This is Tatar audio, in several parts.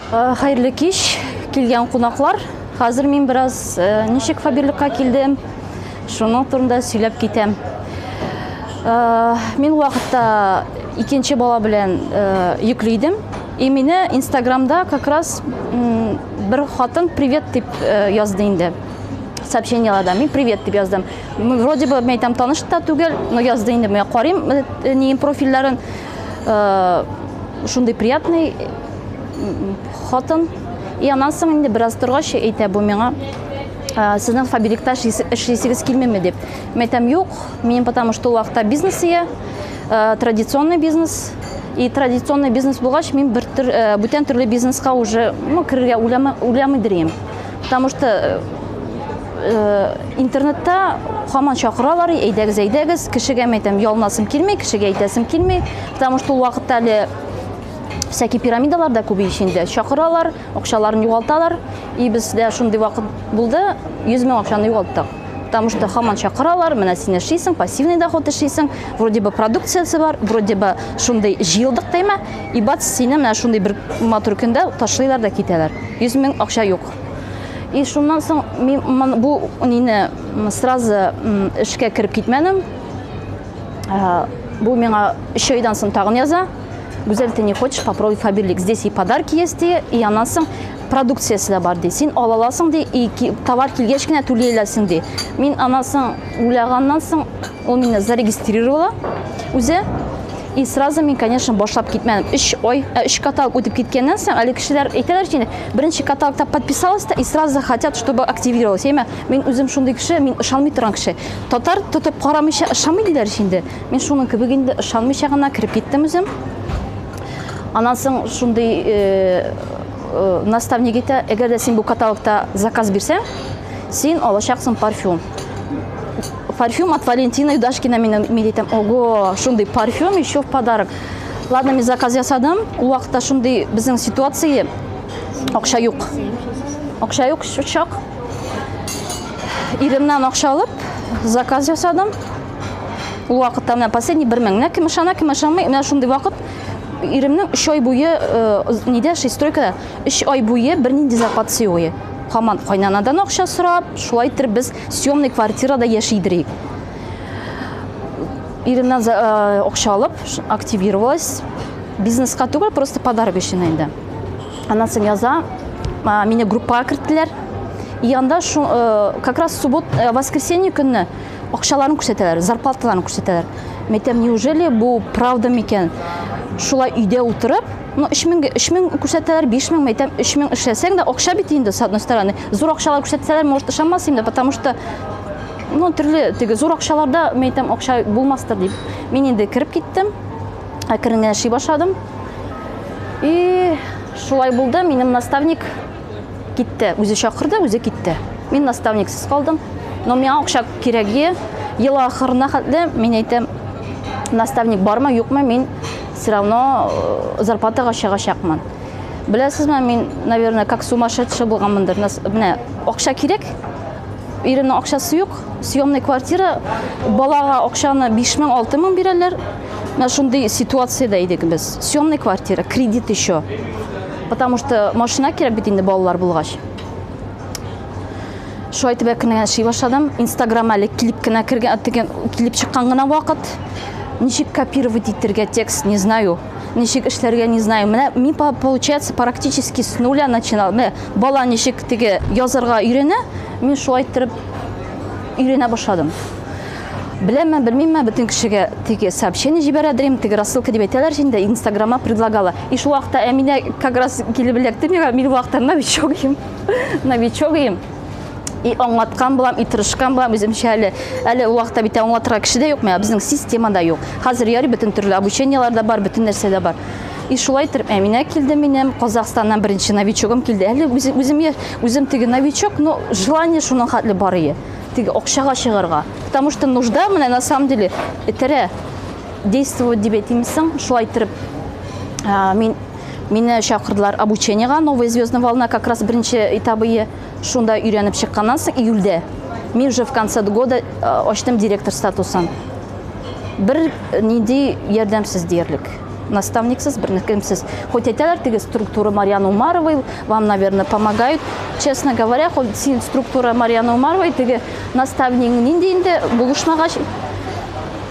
Хәерле кич, килгән кунаклар. Хәзер мин бераз ничек фаберлыкка килдем, шуның турында сөйләп китәм. Мин вакытта икенче бала белән йөкле идем. И мине Инстаграмда как раз бер хатын привет дип язды инде сообщениеларда мин привет дип яздым вроде бы мен айтам таныш та түгел но язды инде мен карыйм нин профильләрен шундый приятный хатын и аннан соң инде бераз торгач әйтә бу миңа сезнең фабрикта эшлисегез килмиме дип мин әйтәм юк минем потому что ул вакытта бизнес ия традиционный бизнес и традиционный бизнес булгач мин бер төр, бүтән төрле бизнеска уже ну керергә уйлама, уйламый дирем потому что Э, интернетта хаман чакыралар әйдәгез әйдәгез кешегә әйтәм ялынасым килми кешегә әйтәсем килми потому что ул вакытта әле всякий пирамидалар да күбәя инде чакыралар акчаларын югалталар и бездә шундый вакыт булды 100 мең акчаны югалттык потому что хаман чакыралар менә син эшлисең пассивный доход эшлисең вроде бы продукциясе бар вроде бы шундый җыелдык тема и бац сине менә шундый бер матур көндә ташлыйлар да китәләр 100 мең акча юк И шуннан соң мин бу нины сразу эшкә кереп китмәдем. Бу миңа 3 айдан соң тагын яза. Гүзәл, ты не хочешь попробовать фаберлик? Здесь и подарки есть, и, и аннан соң продукциясе дә бар, ди. Син ала аласың, ди, и товар килгәч кенә түли аласың, ди. Мин аннан соң уйлаганнан соң Ул мине зарегистрировала үзе. И сразу мин, конечно, башлап китмәдем. Өч ой, ә, өч каталог үтеп киткәннән соң, әле кешеләр әйтәләр инде, беренче каталогта подписалась да и сразу хотят, чтобы активировалась. Яме, мин үзем шундый кеше, мин ышанмый торган кеше. Татар тотып карамыйча ышанмый диләр инде. Мин шуның кебек инде ышанмыйча гына кереп киттем үзем. Аннан соң шундый э, э, наставник әйтә, әгәр дә син бу каталогта заказ бирсәң, син алачаксың парфюм. Парфюм от Валентина Юдашкина менен милитем. Ого, шундый парфюм еще в подарок. Ладно, мен заказ ясадым. Ул вакытта шундый безнең ситуация. Акча юк. Акча юк, чак. Иремнән акча алып, заказ ясадым. Ул вакытта менә последний 1 мең. Менә кем ышана, кем ышанмый, менә шундый вакыт иремнең 3 ай буе э, нидә, шестройкада Өч ай буе бернинди зарплата сиуи. Хаман кайнанадан акча сорап, шулай иттереп без съемный квартирада яши идерик. Иремнән акча алып, активировалась. Бизнеска түгел, просто подарок өчен инде. Аннан соң яза мине группага керттеләр. И анда как раз суббот, воскресенье көнне акчаларын күрсәтәләр, зарплаталарын күрсәтәләр. Мәйтәм, неужели бу правда микән? Шулай өйдә утырып, Ну, өч меңгә, өч мең күрсәтәләр, биш меңме, әйтәм, өч мең эшләсәң дә, акча бит инде, с одной стороны. Зур акчалар күрсәтсәләр, может, ышанмас идем дә, потому что, ну, төрле, теге, зур акчаларда, мен әйтәм, акча булмастыр дип. Мин инде кереп киттем, әкрен генә эшли башладым. И шулай булды, минем наставник, китте. Үзе чакырды, үзе китте. Мин наставниксыз калдым. Но миңа акча кирәге, ел ахырына хәтле мин әйтәм, наставник бармы, юкмы, мин все равно э, зарплатага чыгачакмын. Беләсезме, мин, наверное, как сумасшедший булганмындыр. Менә акча кирәк, иремнең акчасы юк, съемный квартира, балага акчаны 5000, 6000 бирәләр. Менә шундый ситуациядә идек без. Съемный квартира, кредит еще. Потому что машина кирәк бит инде балалар булгач. Шулай итеп әкрен генә эшли башладым. Инстаграм әле килеп кенә кергән, теге килеп чыккан гына вакыт. Ничек копировать итергә текст, не знаю. Ничек эшләргә, не знаю. Менә мин по- получается практически с нуля начинал. Менә бала ничек теге язарга өйрәнә, мин шулай иттереп өйрәнә башладым. Беләмме, белмимме, бөтен кешегә теге сообщение җибәрә дим, теге рассылка дип әйтәләр инде, инстаграмма предлагала. И шул вакытта Әминә как раз килеп эләкте миңа, мин вакытта новичок идем, новичок идем. И аңлаткан булам, и тырышкан булам үземчә әле. Әле ул вакытта бит аңлатырга кеше дә юк, менә безнең система да юк. Хәзер яри бөтен төрле обучениелар да бар, бөтен нәрсә дә бар. И шулай итеп Әминә килде минем, Казахстаннан беренче новичогым килде. Әле үзем, үзем теге новичок, но желание шуның хәтле бар ие. теге акчага чыгарга. Потому что нужда менә на самом деле этерә действовать дип әйтимме соң, шулай иттереп мин мине чакырдылар обучениега новая звездная волна как раз беренче этабы шунда өйрәнеп чыкканнан соң июльдә мин уже в конце года ачтым директор статусын бер нинди ярдәмсез диярлек наставниксыз, бер кемсез. Хоть әйтәләр теге структура Марьяны Умаровой, вам, наверное, помогают. Честно говоря, хоть син структура Марьяны Умаровой, теге наставник нинди инде булышмагач,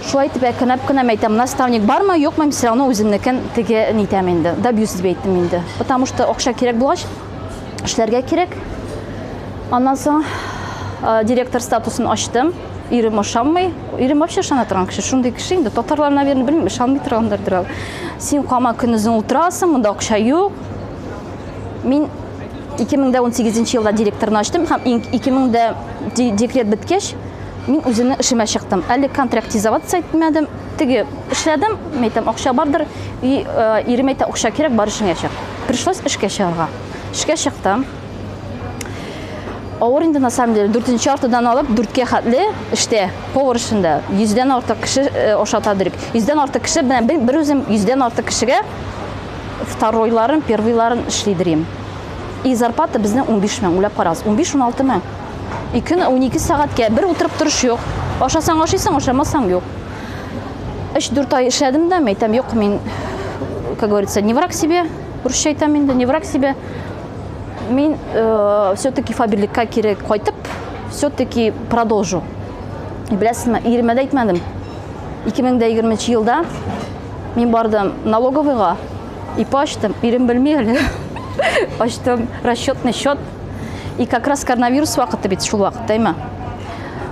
шулай итеп әкренләп кенә әйтәм, наставник бармы, юкмы, мин все равно үземнекен теге нитәм инде, добьюсь дип әйттем инде. Потому что акча кирәк булгач, эшләргә кирәк. Аннан соң э, директор статусын ачтым. Ирем ошамый. Ирем вообще ышана торган кеше. Шундый кеше инде. Татарлар, наверное, белмим, ышанмый торгандыр берәү. Син кама көнезен ултырасың, монда акча юк. Мин 2018 елда директорны ачтым һәм 2000 декрет беткәч, мин үземне эшемә чыктым. Әле контрактизоваться итмәдем. Теге эшләдем, мәйтәм, акча бардыр. И, э, ирем әйтә, акча кирәк, бар эшеңә чык. Пришлось эшкә чыгарга. Эшкә чыктым. Авыр инде на самом деле, дүртенче артыдан алып, дүрткә хәтле эштә, повар эшендә, йөздән артык кеше ошата э, дөрек. Йөздән артык кеше, менә бер үзем йөздән артык кешегә второйларын, первыйларын эшли дөрим. И зарплата безнең 15 мең, үләп карагыз, 15-16 мең. И көн 12 сәгатькә, бер утырып торыш юк. Ашасаң ашыйсың, ашамасаң юк. 3-4 ай эшләдем дә, мәйтәм, юк, мин, как говорится, не враг себе, русча әйтәм инде, не враг себе, Мин э, все-таки фабрикка кире кайтып, все-таки продолжу. Беләсезме, иремә дә әйтмәдем. 2020 елда мин бардым налоговыйга, ипа ачтым, ирем белми әле. Ачтым расчетный счет. И как раз коронавирус вакыты бит шул вакыт, дәйме?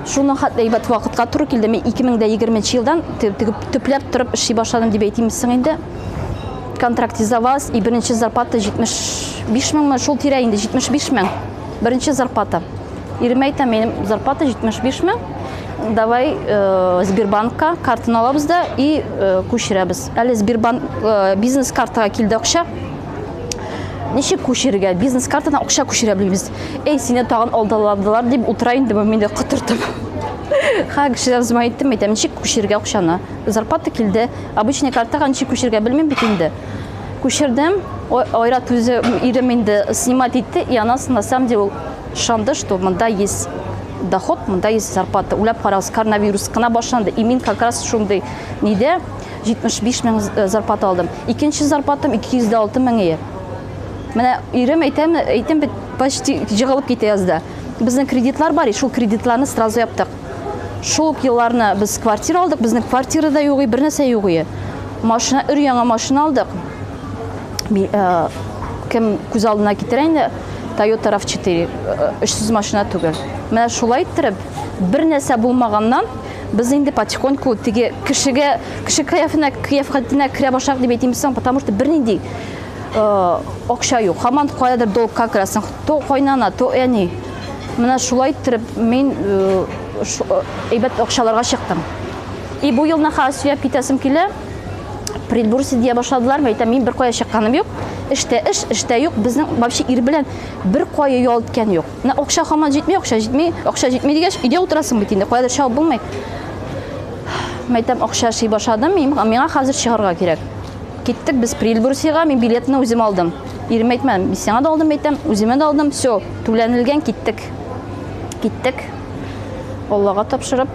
Шуның хәтле әйбәт вакытка туры килде. Мин 2020 елдан тегеп төпләп торып эшли башладым дип әйтимсең инде. Контракт за вас и беренче зарплата 75 меңме, шул тирә инде 75 мең. Беренче зарплата. Иремә әйтәм, минем зарплата 75 мең. Давай э, Сбербанкка картаны алабыз да и э, күчерәбез. Әле Сбербанк э, бизнес картага килде акча. Ничек күчерергә? Бизнес картадан акча күчерә белмибез. Эй, сине тагын алдаладылар дип утыра инде бу мине котыртып. Ха, кешедән зма әйттем, әйтәм, ничек күчерергә акчаны? Зарплата килде, Обычный картага ничек күчергә белмим бит инде. Күчердем. Айрат үзе ирем инде снимать итте, и она на самом деле шанды, что монда есть доход, монда есть зарплата. Уйлап карагыз, коронавирус кына башланды. И мин как раз шундый нидә 75 мең э, зарплата алдым. Икенче зарплатам 206 мең ие. Менә ирем әйтәм, әйтем бит почти җыгылып китә язда. Безнең кредитлар бар, и шул кредитларны сразу яптык. Шул ук елларны без квартира алдык, безнең квартира да югый, бер нәрсә югый. Машина, өр яңа машина алдык. Э, кем күз алдына китерә инде, Toyota RAV4, 300 э, машина түгел. Менә шулай иттереп, бер нәрсә булмаганнан, без инде потихоньку теге кешегә, кеше кыяфына, кыяфхатына керә башлак дип әйтим соң, потому что бернинди э, акча юк. Хаман каядыр долгка керәсең, то кайнана, то әни. Менә шулай иттереп мин әйбәт акчаларга чыктым. И бу елны хәзер сөяп китәсем килә. Предбурсы дия башладылар. Мин әйтәм, мин бер кая чыкканым юк. Эштә эш, эштә юк. Безнең вообще ир белән бер кая ял иткән юк. Менә акча хаман җитми, акча җитми, акча җитми дигәч, өйдә утырасың бит инде. Каядыр чыгып булмый. Мин әйтәм, акча эшли башладым. Миңа хәзер чыгарга кирәк. Киттек без Прильбурсига. Мин билетны үзем алдым. Ирем әйтмәдем. Мин сиңа да алдым әйтәм, үземә дә алдым. Все. Түләнелгән киттек. Киттек. Аллага тапшырып,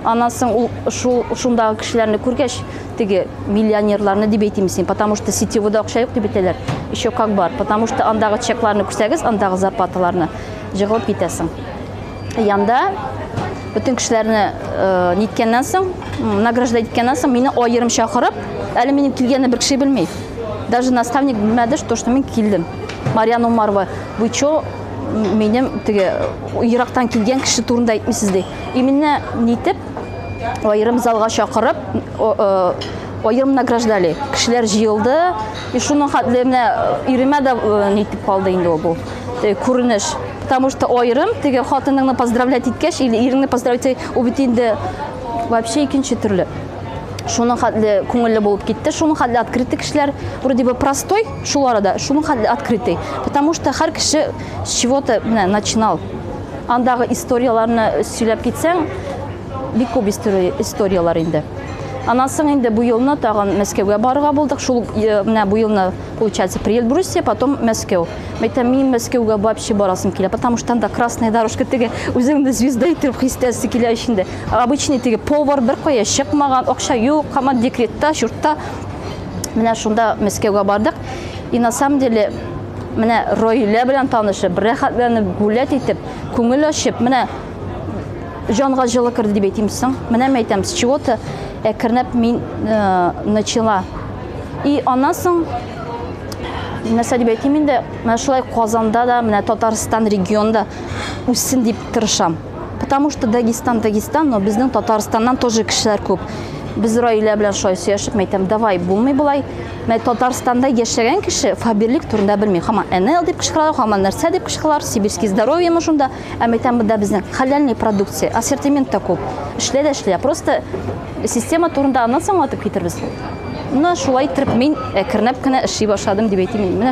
аннан соң ул шул шундагы кешеләрне күргәч, теге миллионерларны дип әйтим син, потому что сетевода акча юк дип әйтәләр. Еще как бар, потому что андагы чекларны күрсәгез, андагы зарплаталарны җыгылып китәсең. Янда бөтен кешеләрне э, ниткәннән соң, награжда иткәннән соң мине аерым чакырып, әле минем килгәнне бер кеше белми. Даже наставник белмәде, что, что мин килдем. Марьян Умарова, вы чё, минем теге ерактан килгән кеше турында әйтмисез ди. Именно нитеп аерым залга чакырып, аерым награждали. Кешеләр җыелды. И шуның хәтле менә э, иремә дә э, нитеп калды инде ул бу э, күренеш. Потому что аерым теге хатыныңны поздравлять иткәч или иреңне поздравлять ул бит инде вообще икенче төрле. шуның хәтле күңелле булып китте шуның хәтле открытый кешеләр вроде бы простой шул арада шуның хәтле открытый потому что һәр кеше с чего то менә начинал андагы историяләрне сөйләп китсәң бик күп историяләр инде анан соң инде бу елны тагын мәскәүгә барырга булдык шул э, менә бу елны получается при эльбрусе потом мәскәү мәйтәм мин мәскәүгә вообще барасым килә потому что анда красная дорожка теге үзеңне звезда итеп хис итәсе килә эчендә Обычный теге повар бер кая чыкмаган, акча юк, хаман декретта, чуртта. Менә шунда Мәскәүгә бардык. И на самом деле менә Ройлә белән танышып, рәхәтләнеп, гулять итеп, күңел ачып, менә җанга җылы керде дип әйтим соң. Менә мен әйтәм, с чего-то әкренләп мин э, начала. И аннан соң нәрсә дип әйтим инде, менә шулай Казанда да, менә Татарстан регионда үссен дип тырышам. Потому что Дагестан, Дагестан, но безнең Татарстаннан тоже кешеләр күп. Без Раилә белән шулай сөйләшеп мәйтәм, давай, булмый болай. Мә Татарстанда яшәгән кеше фаберлик турында белми. Хаман НЛ дип кычкыралар, хаман нәрсә дип кычкыралар, сибирский здоровье мы шунда. Ә мәйтәм бында безнең халяльный продукция, ассортимент та күп. Эшлә дә эшлә. Просто система турында аннан соң атып китербез. Менә шулай итеп мин әкренләп кенә эшли башладым дип әйтим. Менә